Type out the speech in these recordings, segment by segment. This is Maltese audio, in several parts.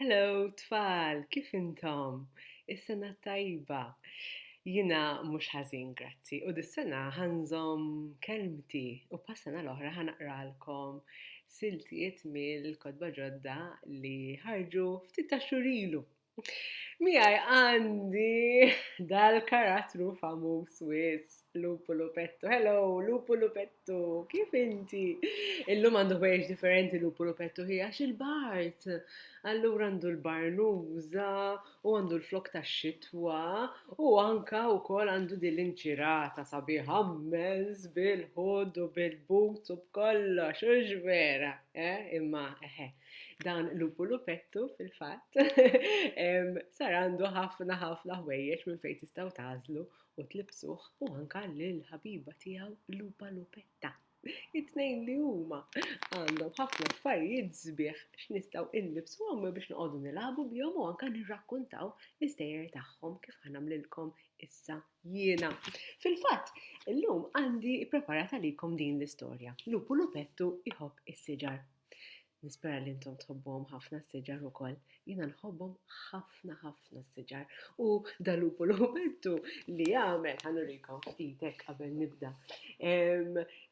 Hello tfal, kif intom? Is-sena tajba. Jina mhux ħażin, grazzi, u dis-sena ħanżom kelmti u pas-sena l-oħra ħanaqralkom siltiet mill-kotba ġodda li ħarġu ftit ta' xurilu. Miegħi għandi dal-karattru famuż wis, Lupu Lupettu. Hello, Lupu Lupettu, kif inti? Illum għandu bejx differenti Lupu Lupettu hi għax il-bart. Allura għandu l-barnuża u għandu l-flok ta' xitwa u anka u kol għandu din l-inċirata sabiħa mmenz bil-ħud u bil-but u b'kollox, u vera, eh? Imma, eħe, eh, Dan lupu lupettu fil-fatt sar għandu ħafna ħafna ħwejjeġ minn fejn tistgħu tażlu u tlibsuh u anka lil ħabiba tiegħu lupa lupetta. It-tnejn li huma għandhom ħafna affarijiet sbieħ x'nistgħu inlibsu għom biex noqogħdu nilagħbu bihom u anka nirrakkuntaw l-istejjer tagħhom kif ħanamlilkom issa jiena. Fil-fatt, illum għandi preparata likom din l-istorja. Lupu lupettu iħobb is-siġar. Nispera li intom tħobbuhom ħafna s-siġar ukoll. Jiena nħobbhom ħafna ħafna s-siġar. U dalupu l-ħubertu li jagħmel ħanurikom ftitek qabel nibda.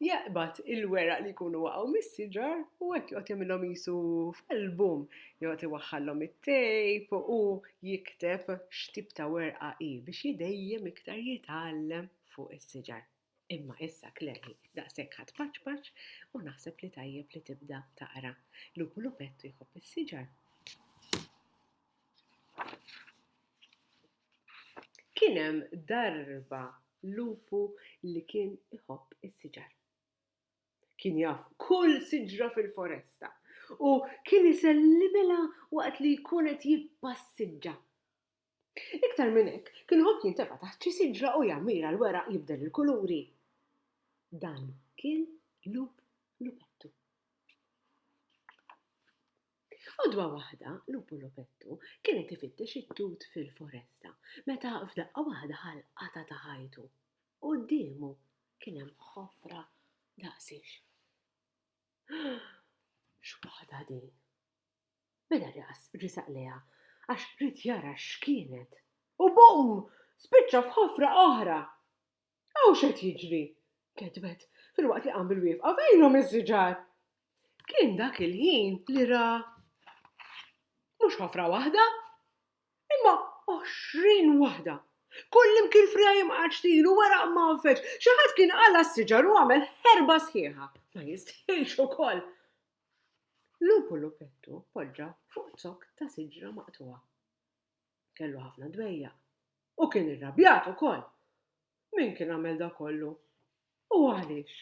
Jaqbad il-weraq li jkunu waqgħu mis-siġar u hekk joqgħod jagħmilhom jisu f'album. Joqgħod iwaħħallhom it-tejp u jikteb x'tip ta' werqa hi biex jidejjem iktar jitgħallem fuq is-siġar. Imma issa klemmi daqshekk ħa tpaċpaċ u naħseb li tajjeb li tibda taqra. Lupu Lupettu jħobb is-siġar. Kien hemm darba lupu li kien iħobb is-siġar. Kien jaf kull siġra fil-foresta u kien isellimilha waqt li jkun qed jippassiġġa. Iktar minn hekk, kien iħobb jintefa' taħt xi siġra u jammira l-weraq jibdel il-kuluri. Dan kien Lup Lupettu. Għodwa waħda, Lupu Lupettu kien qed ifittex it-tut fil-foresta meta f'daqqa waħda ħa l-qatgħa ta' ħajtu. Quddiemu kien hemm ħofra daqsix. X'waħda din! Mela raqas resaq lejha għax ried jara x'kienet. U bum! Spiċċa f'ħofra oħra! Hawn x'qed jiġri? ketbet, filwaqt li qam bil-wieqfa, fejnhom is-siġar? Kien dak il-ħin li ra mhux ħofra waħda, imma għoxrin waħda. Kullimkien friegħa jimqgħadx tilu wara qmanfeġ. Xi ħadd kien qala' s-siġar u għamel ħerba sħiħa. Ma jistħilx ukoll! Lupu Lupettu poġġa fuq zokk ta' siġra maqtugħa. Kellu ħafna dwejjaq u kien irrabjat ukoll. Min kien għamel da kollu? U għaliex?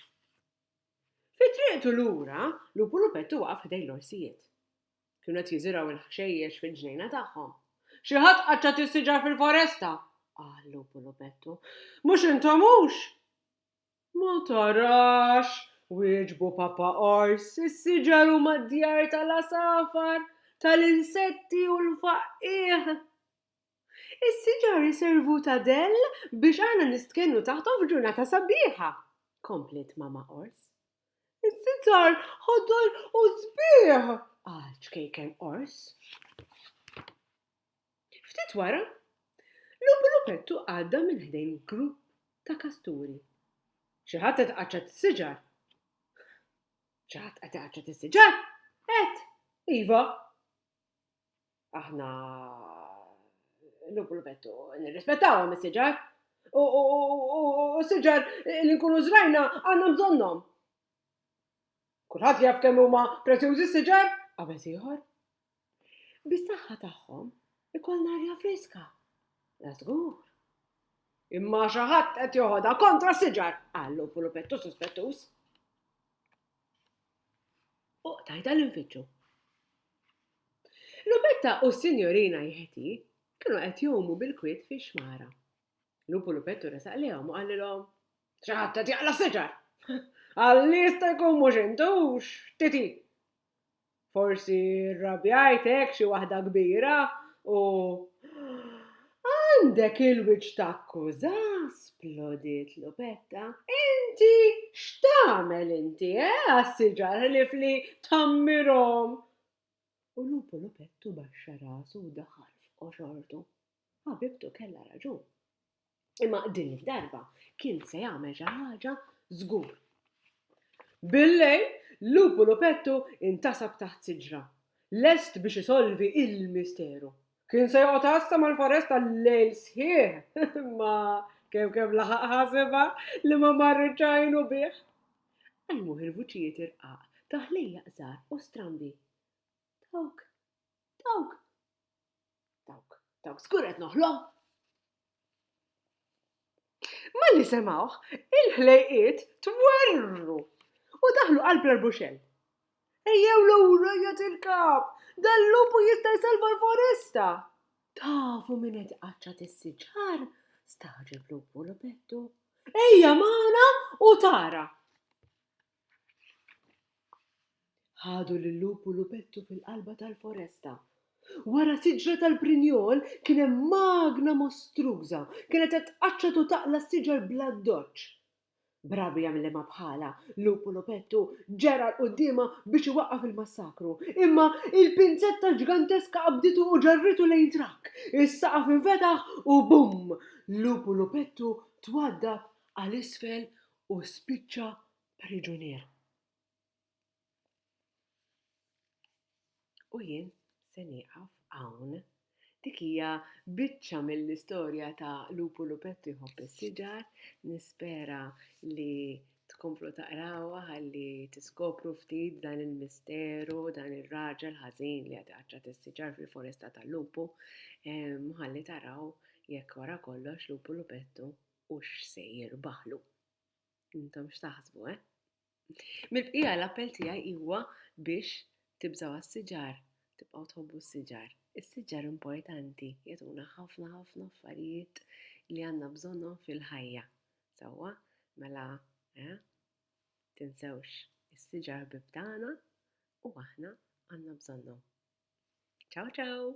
Fi triqtu lura, Lupu Lupettu waqaf ħdejn l-orsijiet. Kienu qed jiżirgħu l-ħxejjex fil-ġnejna tagħhom. Xi ħadd qaċċat is-siġar fil-foresta! qal Lupu Lupettu. Mhux intom hux? Ma tarax, wieġbu Papa Qors, is-siġar huma d-djar tal-għasafar, tal-insetti u l-faqqiegħ. Is-siġar iservu ta' dell biex aħna nistkennu taħthom f'ġurnata sabiħa, kompliet Mama Qors. Is-siġar ħodol u sbieħ, qal Ċkejken Qors. Ftit wara, Lupu Lupettu għadda minn ħdejn grupp ta' kasturi. Xi ħadd qed iqaċċat is-siġar? Xi ħadd qed iqaċċat is-siġar? Qed, iva. Aħna Lupu Lupettu nirrispettawhom is-siġar u s-siġar li nkunu żrajna għandna bżonnhom. Kulħadd jaf kemm huma prezzjużi s-siġar? qabeż ieħor. Bis-saħħa tagħhom ikollna arja friska. La żgur. Imma xi ħadd qed joħodha kontra s-siġar, qal lupu lupettu suspettuż. U tajda l-infittxu. Lupetta u s-sinjorina jħeti kienu qed jomu bil-kwiet fix-xmara. Lupu Lupettu resaq lehom u qalilhom, Xaħat qed jaqla siġar. Għalli jista' jkun mhux intux, titi. Forsi rrabjajt hekk xi waħda kbira u għandek il-wiċċ takkuża, splodiet Lupetta. Inti x'tagħmel inti, eh, għas-siġar ħlief li tammirhom. U lupu Lupettu baxxa rasu u daħal f'qoxortu. Ħabibtu kellha raġun. Imma din id-darba kien se jagħmel xi ħaġa żgur. Bil-lejl, Lupu Lupettu intasab taħt siġra, lest biex isolvi l-misteru. Kien se joqgħod għassa mal-foresta l-lejl sħiħ, imma kemm kemm laħaq ħasibha li ma marritx għajnu bih. Qajmuh il-vuċijiet irqaq ta' ħlejjaq żgħar u strambi. Dawk, dawk, Dawk, dawk żgur qed noħlom! Malli semgħuh, il-ħlejqiet twerrru u daħlu qalb l-arbuxell. Ejjew lura jgħid il-kap, dal-lupu jista' jsalva l-foresta. Tafu min qed iqaċċat is-siġar? Staġeb lupu l-pettu. Ejja magħna u tara. Ħadu lil-lub u lupettu fil-qalba tal-foresta. Wara siġra tal-prinjol kien hemm magna mostruża, kienet qed tqaċċat u taqla' s-siġar bl-addoċċ. B'ragħbi jagħmilha ma' bħalha, lub u lupettu ġera 'l quddiemha biex iwaqqaf il-massakru, imma l-pinzetta ġganteska qabditu u ġarritu lejn trakk, is-saqaf infetaħ u bum! Lub u lupettu twaddab għal isfel u spiċċa priġunier. U jien se nieqaf hawn. Dik hija biċċa mill-istorja ta' Lupu Lupettu jħobb is-siġar, nispera li tkomplu taqrawha ħalli tiskopru ftit dan il-misteru, dan ir-raġel ħażin li qed iqaċċat is-siġar fil-foresta tal-lupu, ħalli taraw jekk wara kollox lupu lupettu u x'se jirbaħlu. Intom x'taħsbu, eh? Mill-bqija l-appell tiegħi huwa biex tibżgħu għas-siġar, tibqgħu tħobbu s-siġar. Is-siġar importanti jagħtuna ħafna ħafna affarijiet li għandna bżonnhom fil-ħajja. Sewwa, mela, eh? Tinsewx is-siġar ħbib tagħna u aħna għandna bżonnhom. Ciao ciao!